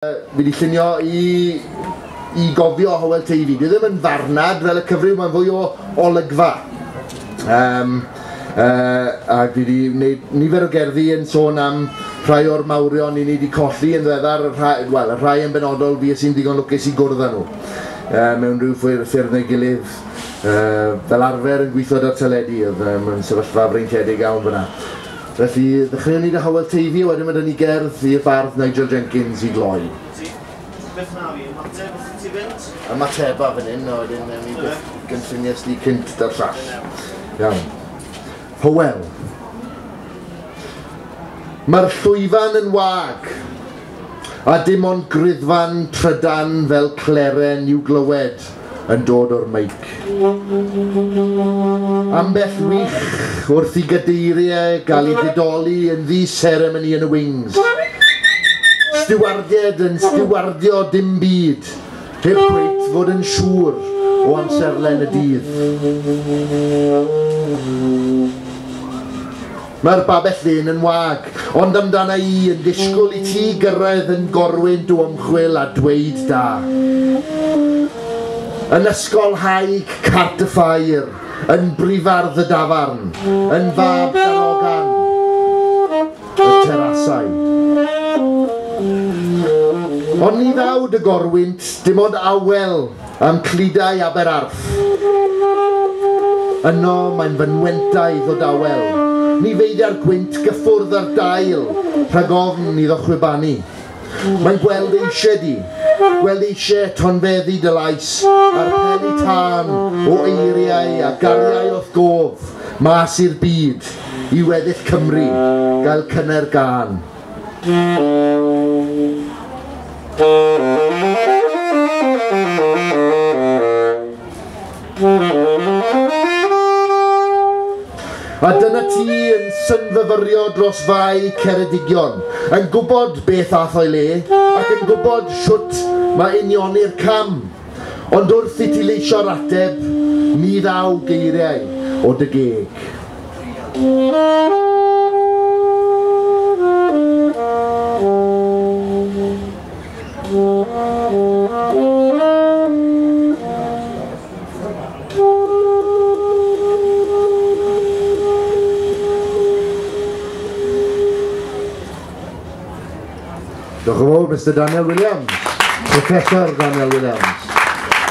Fi wedi llunio i i gofio Howell Teifi. Dwi ddim yn farnad fel y cyfryw, mae'n fwy o olygfa. Um, uh, a dwi wedi gwneud nifer o gerddi yn sôn am rhai o'r mawrion i ni wedi colli yn ddiweddar, rhai, well, rhai yn benodol fi sy'n ddigon lwcus i gwrdd â nhw. Uh, mewn rhyw ffwyr ffyrdd neu gilydd, uh, fel arfer yn gweithio da'r teledu, oedd um, yn sefyllfa freintiedig iawn fyna. Felly, ddechreuwn ni 'da Howel Teifi, a wedyn ma' 'da ni gerdd i'r bardd Nigel Jenkins i gloi. Ti byth yn aru ymateb wrth i ti fynd? Ymateba fan 'yn, a wedyn newn ni beth gynllunies di cynt 'da'r llall. Iawn. Howel. Mae'r llwyfan yn wag, a dim ond griddfan trydan fel cleren i'w glywed. yn dod o'r meic. Ambell wych wrth i gadeiriau gael eu didoli yn ddi seremoni yn y wings. Stiwardied yn stiwardio dim byd, heb cweit fod yn siŵr o amserlen y dydd. Mae'r babell ddyn yn wag, ond amdana i yn disgwyl i ti gyrraedd yn gorwynt o ymchwil a dweud da. Yn ysgol Haig Cartfair, yn brifardd y dafarn, yn fab darogan y terasau. Ond ni ddawd y gorwynt dim ond awel Ym Clydau Aber Arth. Yno mae'n fynwentaidd o dawel. Ni feidia'r gwynt gyffwrdd â'r dail rhag ofn iddo chwibanu. Mae'n gweld ei lle di. Gweld ei lle tonfeddi dy lais a'r peli tân o eiriau a gariai o'th gof mas i'r byd i weddill Cymru gael cyner gân. A dyna ti yn synfyfyrio dros fai Ceredigion, yn gwybod beth ath o'i le, ac yn gwybod shwt mae unioni'r cam. Ond wrth i ti leisio'r ateb, ni ddaw geiriau o dy geg. Diolch yn fawr, Mister Daniel Williams. Professor Daniel Williams.